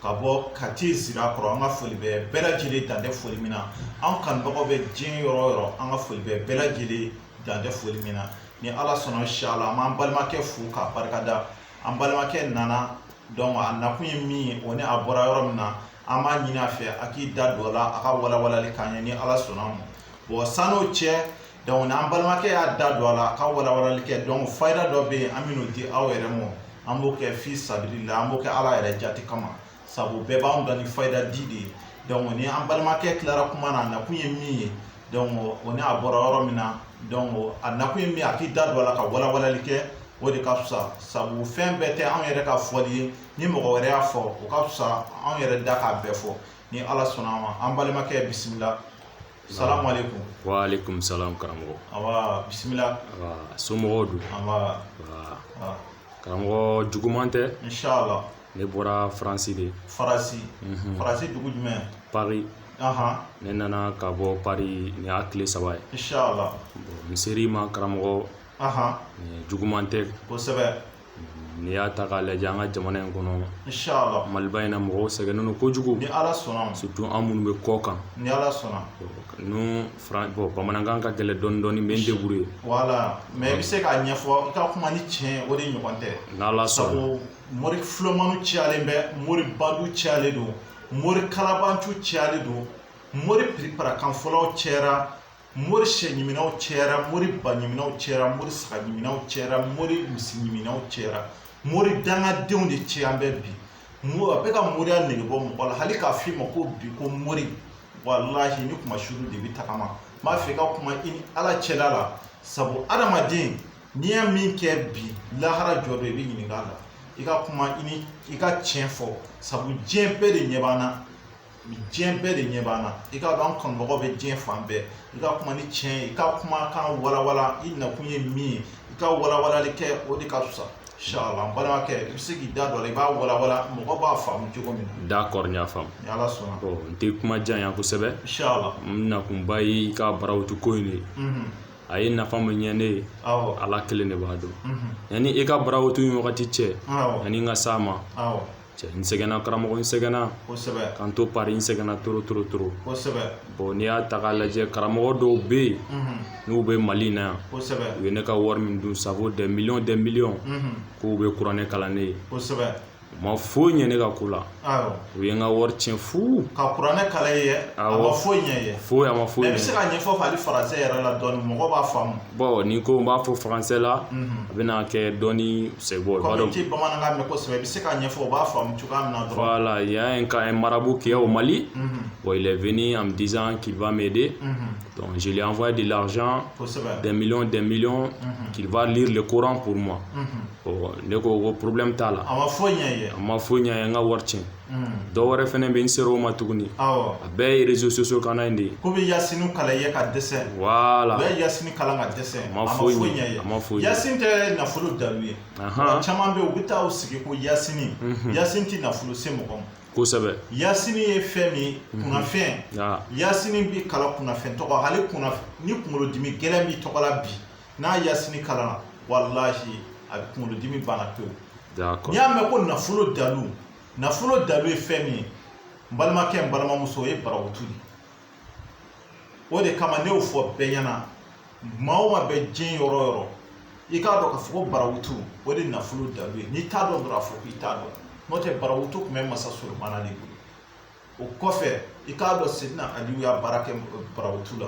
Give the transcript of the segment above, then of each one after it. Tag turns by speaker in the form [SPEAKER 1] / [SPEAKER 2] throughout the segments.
[SPEAKER 1] ka bɔ kati zirakɔrɔ an ka foli bɛ bɛɛ lajɛlen dan tɛ foli min na an kanubagaw bɛ diɲɛ yɔrɔ o yɔrɔ an ka foli bɛ bɛɛ lajɛlen dan tɛ foli min na ni ala sɔnna insala an b'an balimakɛ fo k'a barikada an balimakɛ nana dɔnku a nakun ye min ye o ni a bɔra yɔrɔ min na an b'a ɲini a fɛ a k'i da don a la a ka walawalali k'a ɲɛ ni ala sɔnna ma bɔn san'o cɛ dɔnku n'an balimakɛ y'a da don a la a ka walawalali kɛ dɔnku fayida dɔ bɛ yen an bɛn'o di aw yɛrɛ ma an b'o kɛ fi sabilillah an b'o kɛ ala yɛrɛ jati kama sabu bɛɛ b'an da ni fayida di de ye dɔnku ni an balimakɛ tilara kuma na a nakun ye min ye dɔnku o ni a bɔra yɔrɔ min na dɔnku a nakun ye min a k'i da don a la ka walawalali kɛ o de ka fisa sabu fɛn bɛɛ tɛ anw yɛrɛ ka fɔli ye ni mɔgɔ wɛrɛ y'a fɔ o ka fisa anw yɛrɛ da k'a bɛɛ fɔ ni ala sɔnna a ma an balimakɛ bisimila Salamu aleykum. Wa aleykum
[SPEAKER 2] salam karamɔgɔ. Anbaa
[SPEAKER 1] bisimila. Anbaa
[SPEAKER 2] somɔgɔw dun? Anbaa. Anbaa.
[SPEAKER 1] Anbaa. Karamɔgɔ
[SPEAKER 2] juguman tɛ. Insala. Ne
[SPEAKER 1] bɔra
[SPEAKER 2] Faransi de. Faransi.
[SPEAKER 1] Unhun. Faransi dugu jumɛn?
[SPEAKER 2] Paris. Anhan. Ne nana ka bɔ Paris nin y'a tile saba ye. Insala. Bon
[SPEAKER 1] n ser'i
[SPEAKER 2] ma karamɔgɔ. Anhan. Nin juguman tɛ. Kosɛbɛ.
[SPEAKER 1] n'i
[SPEAKER 2] y'a ta k'a lajɛ an ka jamana in kɔnɔ inshallah
[SPEAKER 1] maliba in na
[SPEAKER 2] mɔgɔw sɛgɛnnen don kojugu ni ala sɔnna ma
[SPEAKER 1] surtout an minnu bɛ kɔkan
[SPEAKER 2] ni ala sɔnna
[SPEAKER 1] n'o fran bon bamanankan
[SPEAKER 2] ka gɛlɛn dɔɔni dɔɔni n bɛ n débrouiller voilà mais
[SPEAKER 1] i bɛ se k'a ɲɛfɔ i ka kuma ni tiɲɛ o de ɲɔgɔn tɛ n'ala sɔnna
[SPEAKER 2] sabu
[SPEAKER 1] mori filomaniw cayalen bɛ mori bandiw cayalen don mori kalabanciw cayalen don mori piriparakanfɔlaw cayara mori sɛ ɲiminaw cayara mori ba ɲiminaw cayara mori saga ɲiminaw cayara mori misi ɲiminaw cayara mori dangadenw de cayalen bɛ bi mo a bɛ ka moriya nege bɔ mɔgɔ la hali k'a f'i ma ko bi ko mori walahi n'i kunmasuuru de bɛ tagama n b'a fɛ i ka kuma i ni ala cɛla la sabu adamaden n'i ye min kɛ bi lahara jɔ don i bɛ ɲininka a la i ka kuma i ka tiɲɛ fɔ sabu diɲɛ bɛɛ de ɲɛ b'an na diɲɛ bɛɛ de ɲɛ b'an na i k'a dɔn an kanubagaw bɛ diɲɛ fan bɛɛ i ka kuma ni tiɲɛ ye i ka kumakan walawala i nakun ye min ye i ka walawalali kɛ o de ka fisa insala n balimakɛ i bɛ se k'i da don a la i b'a walawala mɔgɔ b'a faamu cogo min na d'accord n y'a faamu ni
[SPEAKER 2] ala
[SPEAKER 1] sɔnna n tɛ kuma janya
[SPEAKER 2] kosɛbɛ insala
[SPEAKER 1] n nakunba
[SPEAKER 2] ye i ka barawuti ko in de ye a ye nafa min ɲɛ ne ye ala kelen de b'a dɔn yanni i ka barawuti in wagati cɛ yanni n ka s'a ma cɛ n sɛgɛnna karamɔgɔ n sɛgɛnna kosɛbɛ ka n to paris n sɛgɛnna trop trop trop
[SPEAKER 1] kosɛbɛ bɔn n'i y'a
[SPEAKER 2] ta k'a lajɛ karamɔgɔ dɔw bɛ yen n'u bɛ mali na yan kosɛbɛ u ye ne ka wari
[SPEAKER 1] min dun
[SPEAKER 2] ça vaut des millions des millions k'u bɛ kuranɛ kalan ne ye kosɛbɛ u
[SPEAKER 1] ma
[SPEAKER 2] foyi ɲɛ ne ka ko la awɔ u ye n ka wari tiɲɛ fu ka kuranɛ kalan
[SPEAKER 1] i ye awɔ a ma foyi ɲɛ i ye foyi a ma foyi ɲɛ mɛ i bɛ se k'a
[SPEAKER 2] ɲɛfɔ hali
[SPEAKER 1] faransɛ yɛrɛ la dɔɔni mɔgɔ b'a faamu Bon ni ko n
[SPEAKER 2] b'a fɔ faransɛ la a bɛna kɛ dɔɔni c'est bon comme i tɛ bamanankan mɛn
[SPEAKER 1] kosɛbɛ i bɛ se k'a ɲɛfɔ u b'a faamu cogoya min na dɔrɔn voilà il y'a un cas un
[SPEAKER 2] marabout qui est au Mali bon il est venu en me disant qu'il va m'aider donc je lui ai envoyé de l'argent kosɛbɛ des millions des millions qu'il va lire le Coran pour moi bon ne ko ko problème t'a la a ma foyi ɲɛ i ye a
[SPEAKER 1] ma foyi ɲɛ n ye n ka
[SPEAKER 2] wari tiɲɛ. dɔw wɛrɛ fɛnɛ bɛ n ser'o ma tuguni a bɛɛ ye réseaux sociaux kan in de ye k'u bɛ yasini kalan i ye
[SPEAKER 1] ka dɛsɛ voilà u bɛ yasini kalan
[SPEAKER 2] ka
[SPEAKER 1] dɛsɛ a ma foyi ɲɛ a
[SPEAKER 2] ma foyi ɲɛ yasini tɛ nafolo
[SPEAKER 1] dalu ye caman bɛ u bɛ taa u sigi ko yasini yasini tɛ nafolo se mɔgɔ ma kosɛbɛ yasini ye fɛn min ye kunnafɛn yasini bɛ kalan kunnafɛn tɔgɔ hali ni kunkolodimi gɛlɛn b'i tɔgɔ la bi n'a yasini kalan walahi a bɛ kunkolodimi banna pewu n'i y'a mɛn ko nafolo dalu nafolo dalu ye fɛn min ye n balimakɛ n balimamuso o ye barawutu de o de kama ne y'o fɔ bɛɛ ɲɛna maa o maa bɛ diɲɛ yɔrɔ o yɔrɔ i k'a dɔn k'a fɔ ko barawutu o de nafolo dalu ye n'i t'a dɔn dɔrɔn a fɔ k'i t'a dɔn n'o tɛ barawutu tun bɛ masa solomana de bolo o kɔfɛ i k'a dɔn seyidina aliyu y'a baara kɛ barawutu la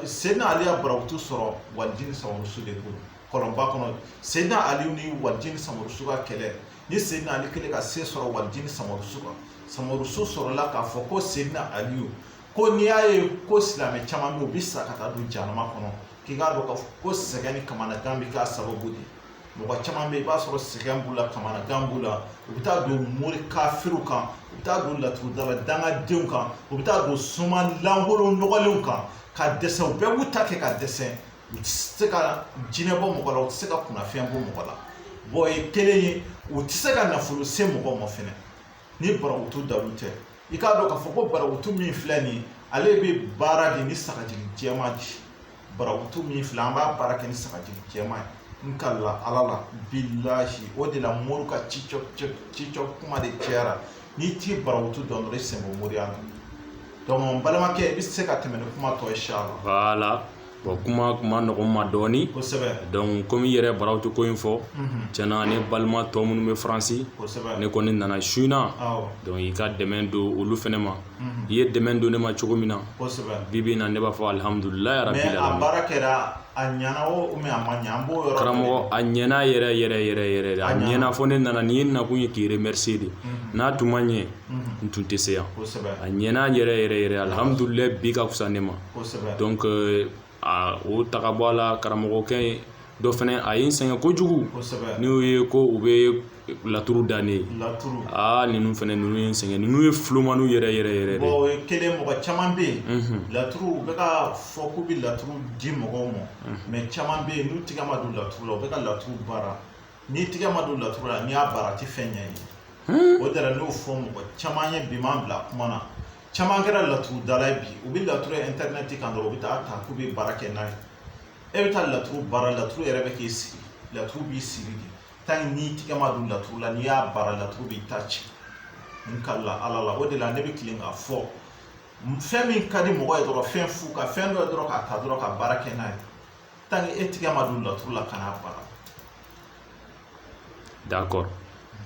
[SPEAKER 1] Seyidina Ali y'a barawutu sɔrɔ Walijini Samarusu de bolo kɔlɔnba kɔnɔ Seyidina Ali ni Walijini Samarusu ka kɛlɛ ni Seyidina Ali kɛlen ka se sɔrɔ Walijini Samarusu kan Samarusu sɔrɔla k'a fɔ ko Seyidina Aliyu ko n'i y'a ye ko silamɛ caman bɛ yen u bɛ sa ka taa don jahanama kɔnɔ k'i k'a dɔn k'a fɔ ko sɛgɛn ni kamanagan bɛ k'a sababu de ye mɔgɔ caman bɛ i b'a sɔrɔ sɛgɛn b'u la kamanagan b'u la u bɛ taa don mori kafiriw kan u bɛ taa don laturudala dangadenw kan u bɛ taa don soma lankolon nɔgɔlenw kan ka dɛsɛ u bɛɛ b'u ta kɛ ka dɛsɛ u tɛ se ka jinɛ bɔ mɔgɔ la u tɛ se ka kunnafɛn bɔ mɔgɔ la bɔn o ye kelen ye u tɛ se ka nafolo se mɔgɔ ma fɛnɛ ni barawutu dalu tɛ i k'a dɔn k'a fɔ ko barawutu min filɛ nin ye ale bɛ baara de ni sagajigi jɛman de ye barawutu min filɛ an b'a baara kɛ ni sagajigi jɛman ye n kalila ala la bilahi o de la mori ka ci cɔ cɔ ci cɔ kuma de cayara n'i tɛ barawutu dɔn dɔrɔn i sen bɔ moriya la donc n balimakɛ i bɛ se ka tɛmɛ ni kuma tɔ ye inshallah voilà
[SPEAKER 2] Bon kuma tun man nɔgɔ n ma dɔɔnin, kosɛbɛ, donc comme i yɛrɛ ye Barawutu ko in fɔ, unhun, tiɲɛna ne balima tɔ minnu bɛ France, kosɛbɛ, ne kɔni nana su in na, awɔ, donc i ka dɛmɛ don olu fɛnɛ ma, unhun, i ye dɛmɛ don ne ma cogo min na, kosɛbɛ, bi bi in na ne b'a fɔ alihamudulila yarabi mais a baara kɛra a
[SPEAKER 1] ɲɛna o ou bien a ma ɲɛ an b'o yɔrɔ karamɔgɔ a
[SPEAKER 2] ɲɛna yɛrɛ yɛrɛ yɛrɛ yɛrɛ de a ɲɛna fo ne nana nin ye nakun ye k'i remercier de n'a tun ma ɲɛ n tun tɛ se yan a ɲɛna yɛrɛ yɛrɛ yɛrɛ alihamudulila bi ka fisa ne ma dɔnku aa o ta bɔ a la karamɔgɔkɛ dɔ fana a ye n sɛgɛn kojugu n'o ye ko u bɛ laturu da n ye aa ninnu fana ninnu ye n sɛgɛn ninnu ye fulomaniw yɛrɛ yɛrɛ yɛrɛ
[SPEAKER 1] caman bɛ yen laturu u bɛ k'a fɔ k'u bɛ laturu di mɔgɔw ma mɛ caman bɛ yen u tigɛ ma don laturu la u bɛ ka laturu baara n'i tigɛ ma don laturu la n'i y'a baara a tɛ fɛn ɲɛ i ye o de la n'o fɔ mɔgɔ caman ye bi m'an bila kuma na caman kɛra laturudala ye bi u bɛ laturu ɛntɛrinɛti kan dɔrɔn u bɛ t'a ta k'u bɛ baara kɛ n'a ye e bɛ taa laturu baara laturu yɛrɛ bɛ k'i sigi laturu b'i sigi de tanki n'i tigɛ ma don laturu la n'i y'a baara laturu b'i ta ci n kala ala la o de la ne bɛ tilen k'a fɔ fɛn min ka di mɔgɔ ye dɔrɔn fɛn fu ka fɛn dɔ ye dɔrɔn k'a ta dɔrɔn ka baara kɛ n'a ye tanki e tigɛ ma don laturu la kan'a baara
[SPEAKER 2] d'accord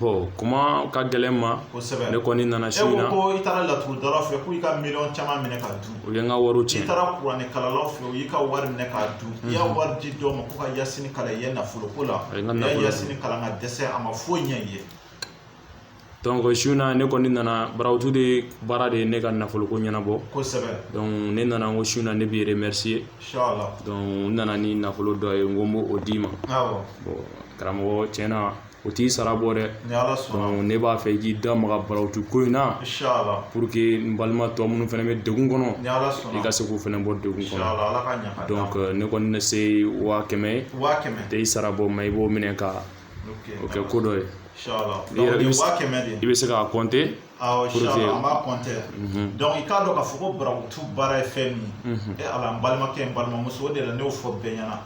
[SPEAKER 2] bon kuma ka gɛlɛn n ma kosɛbɛ ne kɔni nana e su in na ko i taara laturudalaw
[SPEAKER 1] fɛ k'u y'i ka miliyɔn caman minɛ k'a dun u ye n ka wariw tiɲɛ i
[SPEAKER 2] taara
[SPEAKER 1] kuranɛkalalaw fɛ u y'i ka wari minɛ k'a dun i ye wari di dɔw ma ko ka yasini kalan i ye nafoloko la u ye yasini kalan ka dɛsɛ a ma foyi ɲɛ i ye
[SPEAKER 2] su in na ne kɔni nana barawutu de baara de ye ne ka nafolo ko
[SPEAKER 1] ɲɛnabɔ ne nana
[SPEAKER 2] ko su in na ne b'i remercier n
[SPEAKER 1] nana ni
[SPEAKER 2] nafolo dɔ ye n ko n b'o d'i ma
[SPEAKER 1] karamɔgɔ
[SPEAKER 2] cɛn na o t'i sara bɔ dɛ ne b'a fɛ i k'i da maga barawutu ko in na pour que n balima tɔ minnu fana bɛ degun kɔnɔ i ka se k'u fana bɔ degun kɔnɔ ne kɔni ne se waa kɛmɛ t'i sara bɔ ma i b'o minɛ ka o kɛ ko dɔ ye i bɛ se k'a
[SPEAKER 1] kɔnte dɔnku i k'a dɔn k'a fɔ ko barawutu baara ye fɛn min ye ala n balimakɛ n balimamuso o de la ne y'o fɔ bɛɛ ɲɛna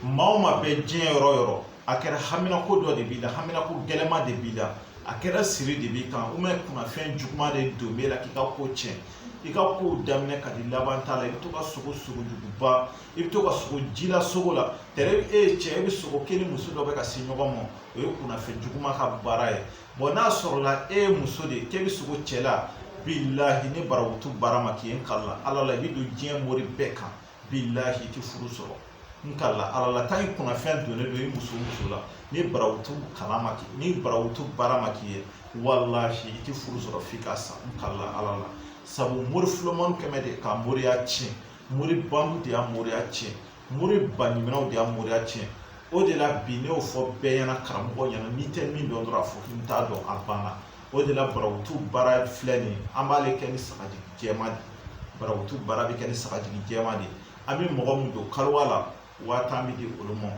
[SPEAKER 1] maa o maa bɛ diɲɛ yɔrɔ o yɔrɔ a kɛra hamina ko dɔ de b'i la hamina ko gɛlɛma de b'i la a kɛra siri de b'i kan ou bien kunnafɛn juguman de don b'e la k'i ka ko cɛn i ka kow daminɛ ka di laban t'a la i bɛ to ka sogo sogo juguba i bɛ to ka sogo ji la sogo la tɛrɛ e ye cɛ e bɛ sogo kɛ ni muso dɔ bɛ ka se ɲɔgɔn ma o ye kunnafɛn juguman ka baara ye n'a sɔrɔla e ye muso de ye k'e bɛ sogo cɛ la bilahi ni barawutu baara ma k'i ye n kala ala la i bɛ don diɲɛ mori bɛɛ kan bilahi i tɛ furu sɔrɔ n kala ala la tanki kunnafɛn donnen don i muso la ni barawutu kalan ma k'i ni barawutu baara ma k'i ye walahi i tɛ furu sɔrɔ f'i ka sa n kala ala la sabu mori fulomani kɛmɛ de ka moriya tiɲɛ mori bandiw de y'a moriya tiɲɛ mori baɲumanw de y'a moriya tiɲɛ o de la bi ne y'o fɔ bɛɛ ɲɛna karamɔgɔ ɲɛna n'i tɛ min dɔn dɔrɔn a fɔ k'i t'a dɔn a banna o de la barawutu baara filɛ nin ye an b'ale kɛ ni sagajigi jɛma de barawutu baara bɛ kɛ ni sagajigi jɛma de an bɛ mɔgɔ min don kaluwa la waa tan bɛ di olu ma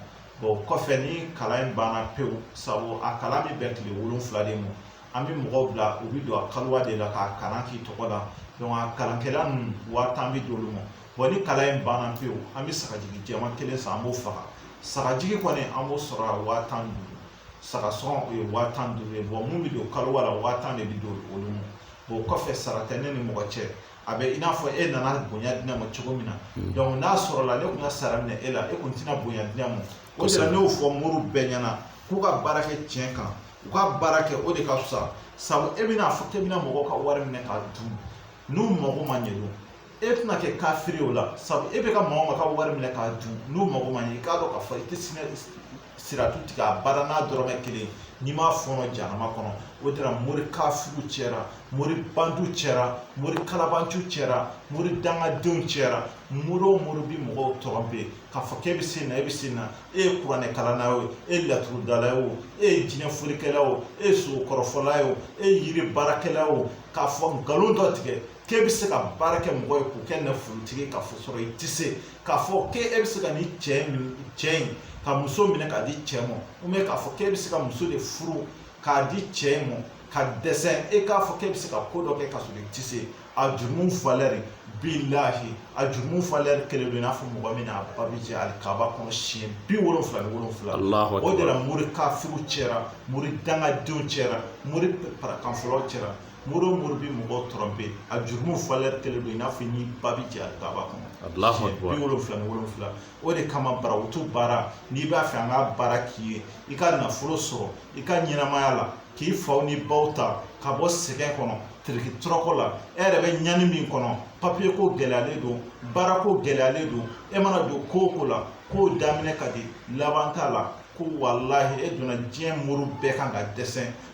[SPEAKER 1] o kɔfɛ ni kalan in banna pewu sabu a kalan bɛ bɛn tile wolonwula de ma an bɛ mɔgɔw bila u bɛ don a kaliwa de la k'a kalan k'i tɔgɔ la donc a kalankɛla ninnu waa tan bɛ d'olu ma bon ni kalan in banna pewu an bɛ sagajigi jɛman kelen san an b'o faga sagajigi kɔni an b'o sɔrɔ a waa tan ni duuru saga sɔngɔ o ye waa tan ni duuru ye bon mun bɛ don kaliwa la waa tan de bɛ d'olu ma bon o kɔfɛ sara tɛ ne ni mɔgɔ cɛ a bɛ i n'a fɔ e nana bonya di ne ma cogo min na donc n'a sɔrɔla ne tun ka sara minɛ e la e tun tɛna bonya di ne ma o de la ne y'o fɔ moriw bɛɛ ɲɛna k'u ka baara kɛ tiɲɛ kan u ka baara kɛ o de ka fisa sabu e bɛna fɔ k'e bɛna mɔgɔw ka wari minɛ k'a dun n'u mago ma ɲɛ donc e tɛna kɛ kafiri o la sabu e bɛ ka mɔgɔw ka wari minɛ k'a dun n'u mago ma ɲɛ i k'a dɔn k'a fɔ i tɛ sinɛ siratu tigɛ abada n'a dɔrɔmɛ kelen n'i m'a fɔɔnɔ janama kɔnɔ o de la mori kafiriw cɛra mori bandiw cɛra mori kalabanciw cɛra mori dangadenw cɛra mori o mori bi mɔgɔw tɔrɔnpe k'a fɔ k'e bɛ se na e bɛ se na e ye kuranɛ kalanna ye o e ye laturudala ye o e ye jinɛ folikɛla o e ye sogo kɔrɔfɔla ye o e ye yiri baarakɛla o k'a fɔ nkalon dɔ tigɛ k'e bɛ se ka baara kɛ mɔgɔ ye k'o kɛ nafolotigi ye ka fɔ sɔrɔ i tɛ se k'a fɔ k'e bɛ se ka nin cɛ in cɛ in ka muso minɛ k'a di cɛ ma k'a fɔ k'e bɛ se ka muso de furu k'a di cɛ in ma ka dɛsɛ e k'a fɔ k'e bɛ se ka ko dɔ kɛ k'a sɔrɔ i tɛ se a jurumu falɛri bilahi a jurumu falɛri kelen don i n'a fɔ mɔgɔ min n'a ba bɛ jɛ alikaba kɔnɔ siɲɛ bi wolonfila ni wolonfila o de la mori kafiriw cɛra mori dangadenw cɛra mori parakanfɔlaw cɛra mori o mori bɛ mɔgɔ tɔrɔnpe a jurumu falɛri kelen don i n'a fɔ n'i ba bɛ jɛ alikaba kɔnɔ bi wolonfila ni wolonfila o de kama barawutu baara n'i b'a fɛ an ka baara k'i ye i ka nafolo sɔrɔ i ka ɲɛnamaya la k'i faw ni baw ta ka bɔ sɛgɛn kɔnɔ tiriki tɔrɔkɔ la e yɛrɛ bɛ ɲani min kɔnɔ papiye ko gɛlɛyalen don baara ko gɛlɛyalen don e mana don ko o ko la k'o daminɛ ka di laban t'a la ko walahi e donna diɲɛ mori bɛɛ kan ka dɛsɛ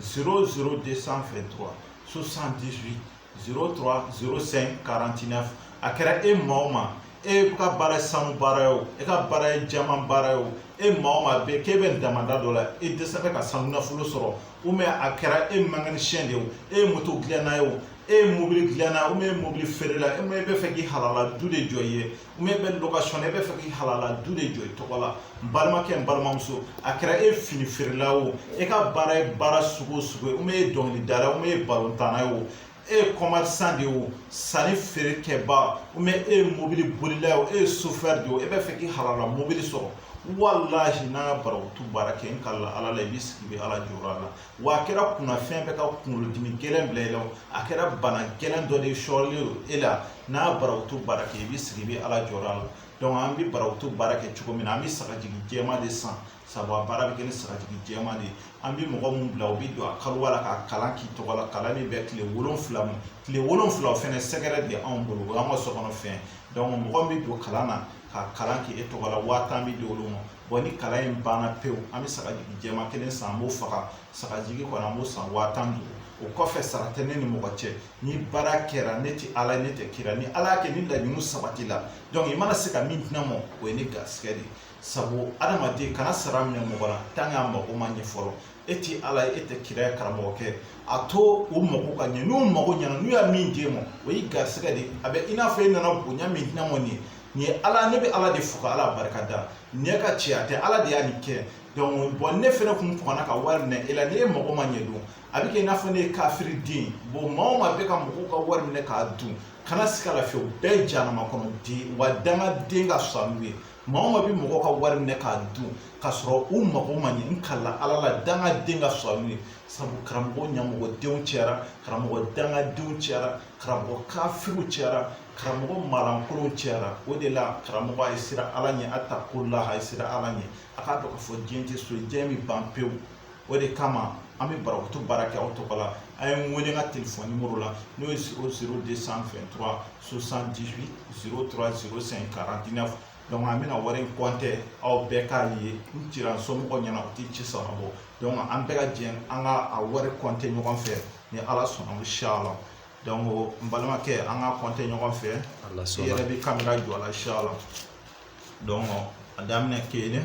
[SPEAKER 1] 0 0 223 78 03 05 49 a kɛra e maa o maa e ka baara ye sanu baara ye o e ka baara ye jaman baara ye o e maa o maa bɛ k'e bɛ damanda dɔ la e dɛsɛlen bɛ ka sanu nafolo sɔrɔ ubiyɛn a kɛra e mekanisiyɛn de ye o e ye moto dilanna ye o e ye mobili dilanna ubiyɛn e ye mobili feerela e bɛ fɛ k'i halala du de jɔ i ye ubiyɛn e bɛ lokasɔn e bɛ fɛ k'i halala du de jɔ i tɔgɔ la n balimakɛ n balimamuso a kɛra e fini feerela o e ka baara ye baara sugu o sugu ye ubiyɛn e ye dɔnkilidala ubiyɛn e ye balontanna ye o e ye kɔmɛrisan de ye o sanni feere kɛba ubiyɛn e ye mobili bolila ye o e ye sofɛri de ye o e bɛ fɛ k'i halala mobili sɔrɔ walahi n'an ka barawutu baara kɛ n kalila ala la i b'i sigi i bɛ ala jɔyɔrɔ la wa a kɛra kunnafɛn bɛ ka kunkolodimi gɛlɛn bila i la a kɛra bana gɛlɛn dɔ de sɔrɔlen don e la n'a barakutu baara kɛ i bɛ sigi i bɛ ala jɔyɔrɔ a la an bɛ barakutu baara kɛ cogo min na an bɛ sagajigi jɛman de san sabu a baara bɛ kɛ ni sagajigi jɛman de ye an bɛ mɔgɔ minnu bila u bɛ don a kaliwa la ka kalan k'i tɔgɔ la kalan min bɛ tile wolonfila ma tile wolonfila o fɛnɛ sɛgɛrɛ de anw bolo o y'an ka sokɔnɔ fɛn mɔgɔ min bɛ don kalan na ka kalan kɛ e tɔgɔ la waa tan bɛ di olu ma bon ni kalan in banna pewu an bɛ sagajigi jɛman kelen san an b'o faga sagajigi kɔni an b'o san waa tan ni duuru o kɔfɛ sara tɛ ne ni mɔgɔ cɛ ni baara kɛra ne tɛ ala ne tɛ kira ni ala y'a kɛ ni laɲini sabatila donc i mana se ka min di ne ma o ye ne garisɛgɛ de sabu adamaden kana sara minɛ mɔgɔ la tant qu'a mago ma ɲɛ fɔlɔ e tɛ ala ye e tɛ kira ye karamɔgɔkɛ a to u mago ka ɲɛ n'u mago ɲɛna n'u y'a min d'e ma o y'i garisɛgɛ de a bɛ i n'a fɔ e nana bonya min di ne ma nin ye nin ye ala ne bɛ ala de fo ka ala barika da ne ka cɛya tɛ ala de y'a nin kɛ donc bon ne fɛnɛ kun kɔnna ka wari minɛ e la ni e mago ma ɲɛ don a bɛ kɛ i n'a fɔ ne ye kafiri de bon maa o maa bɛ ka mɔgɔw ka wari minɛ k'a dun kana siga a la fiyewu bɛɛ jahanama kɔnɔ di wa dangaden ka fisa n'u ye maa o maa bɛ mɔgɔ ka wari minɛ k'a dun k'a sɔrɔ u mago ma ɲɛ n kalila ala la dangaden ka fisa n'u ye sabu karamɔgɔ ɲamɔgɔdenw cayara karamɔgɔ dangadenw cayara karamɔgɔ kafiriw cayara karamɔgɔ maalankolonw cayara o de la karamɔgɔ a ye siran ala ɲɛ atakulaha a ye siran ala ɲɛ a k'a dɔn k'a fɔ diɲɛ tɛ so ye diɲɛ bɛ ban pewu o de kama an bɛ barakutu baara kɛ aw tɔgɔ la a ye n wele n ka telefɔni nimoro la n'o ye zéro zéro deux cent vingt-trois soixante-dix-huit zéro trois zéro cinq quarante-neuf donc an bɛna wari in kɔntɛ aw bɛɛ k'a ye n cira somɔgɔw ɲɛna u tɛ ci sara bɔ donc an bɛɛ ka jɛ an ka a wari kɔntɛ ɲɔgɔn fɛ ni ala sɔnna inchallah donc n balimakɛ an ka kɔntɛ ɲɔgɔn fɛ i yɛrɛ bɛ kamera jɔ a la inchallah donc a daminɛ kelen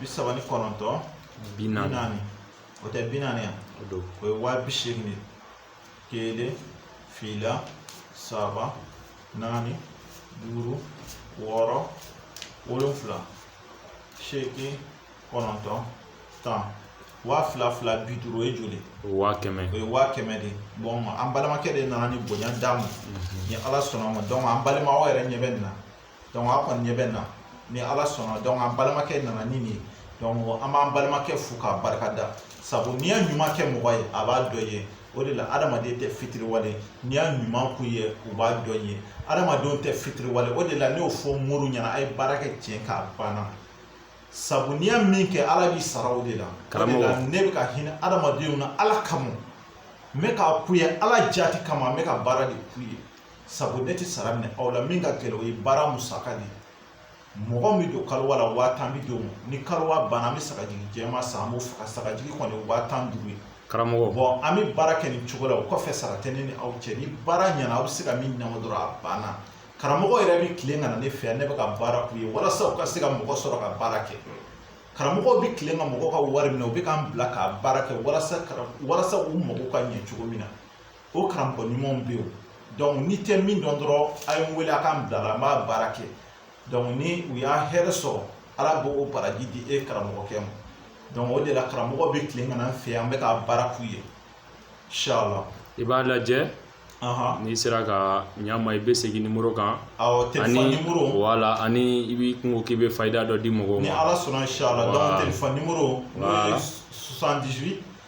[SPEAKER 1] bi saba ni kɔnɔntɔn bi naani o tɛ bi naani yan o ye waa bi seegin de kelen fila saba naani duuru wɔɔrɔ wolonfila seegin kɔnɔntɔn tan waa fila fila bi duuru o ye joli o ye waa kɛmɛ o ye
[SPEAKER 2] waa kɛmɛ de
[SPEAKER 1] bon an balimakɛ de nana nin bonya d'an ma ni ala sɔnna a ma donc an balima aw yɛrɛ ɲɛ bɛ nin na donc a kɔni ɲɛ bɛ nin na ni ala sɔnna donc an balimakɛ nana ni nin ye donc an b'an balimakɛ fo k'a barika da sabu n'i ye ɲuman kɛ mɔgɔ ye a b'a dɔn i ye o de la adamaden tɛ fitiriwale n'i y'a ɲuman k'u ye u b'a dɔn i ye adamadenw tɛ fitiriwale o de la ne y'o fɔ moriw ɲɛna a ye baara kɛ tiɲɛ kan a banna sabu n'i y'a min kɛ ala b'i sara o de la o de la ne bɛ ka hinɛ adamadenw na ala kama n bɛ k'a k'u ye ala jaati kama n bɛ ka baara de k'u ye sabu ne tɛ sara minɛ aw la min ka gɛlɛn o ye baara musaka de ye mɔgɔ min don kalowa la waa tan bɛ d'o ma ni kalowa banna an bɛ sagajigi jɛman san an b'o faga sagajigi kɔni ye waa tan duuru ye karamɔgɔ bon an bɛ
[SPEAKER 2] baara kɛ
[SPEAKER 1] nin cogo la o kɔfɛ sara tɛ ne ni aw cɛ ni baara ɲɛna aw bɛ se ka min ɲɛnabɔ dɔrɔn a banna karamɔgɔ yɛrɛ bɛ tilen ka na ne fɛ yan ne bɛ ka baara k'u ye walasa u ka se ka mɔgɔ sɔrɔ ka baara kɛ karamɔgɔw bɛ tilen ka mɔgɔ ka wari minɛ u bɛ k'an bila ka baara kɛ walasa walasa u mago ka ɲɛ cogo min na o karamɔgɔ ɲumanw bɛ yen donc n'i tɛ min dɔn dɔrɔn a ye n wele a k'an bila la an b'a baara kɛ donc ni u y'a hɛrɛ sɔrɔ ala b'o baraji di e karamɔgɔkɛ ma donc o de la karamɔgɔ bɛ tilen ka na an fɛ yan an bɛ ka baara k'u ye inshallah i b'a
[SPEAKER 2] lajɛ n'i sera ka ɲama i bɛ segin nimoro kan
[SPEAKER 1] ani voilà ani i
[SPEAKER 2] b'i kungo k'i bɛ fayida dɔ di mɔgɔw ma ni ala sɔnna inshallah
[SPEAKER 1] donc telefɔni nimoro n'o ye 78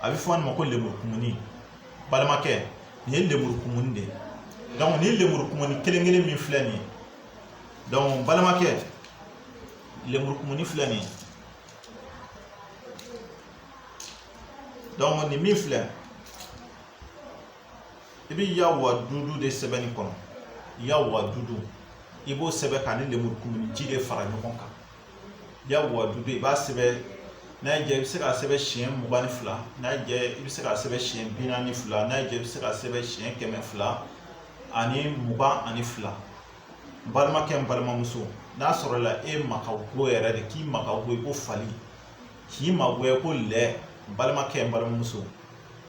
[SPEAKER 1] a bɛ fɔ nin ma ko lemurukumuni balimakɛ nin ye lemurukumuni de ye donc nin lemurukumuni kelen kelen min filɛ nin ye donc balimakɛ lemurukumuni filɛ nin ye donc nin min filɛ i bɛ ya wadudu de sɛbɛn nin kɔnɔ ya wadudu i b'o sɛbɛn k'a ni lemurukumuni ji de fara ɲɔgɔn kan ya wadudu i b'a sɛbɛn n'a y'i diya i bɛ se k'a sɛbɛn siɲɛ mugan ni fila n'a y'i diya i bɛ se k'a sɛbɛn siɲɛ bi naani ni fila n'a y'i diya i bɛ se k'a sɛbɛn siɲɛ kɛmɛ fila ani mugan ani fila n balimakɛ n balimamuso n'a sɔrɔla e ma ka go yɛrɛ de k'i ma ka go ko fali k'i magoya ko lɛ n balimakɛ n balimamuso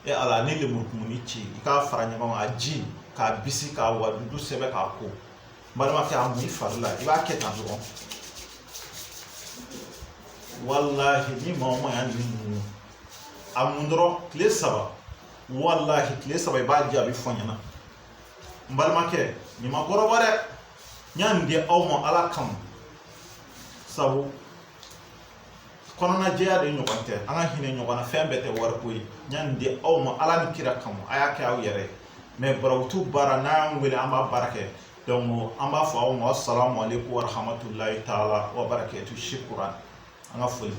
[SPEAKER 1] e ala ni lemurukumuni ci i k'a fara ɲɔgɔn kan a ji k'a bisi ka wadudu sɛbɛn k'a ko balimakɛ a mun i fari la i b'a kɛ tan dɔrɔn walahi ni maa o maa y'a nin mun a mun dɔrɔn tile saba walahi tile saba i b'a jaabi fɔ n ɲɛna n balimakɛ nin ma kɔrɔbɔ dɛ n y'a nin di aw ma ala kama sabu kɔnɔnajɛya de ɲɔgɔn tɛ an ka hinɛ ɲɔgɔn na fɛn bɛɛ tɛ wariko ye n y'a nin di aw ma ala ni kira kama a y'a kɛ aw yɛrɛ ye mais barawutu baara n'a y'an wele an b'a baara kɛ donc an b'a fɔ aw ma asalamu aleykum warahamatulayi taala wa barakatu shukran an ka foli bɛ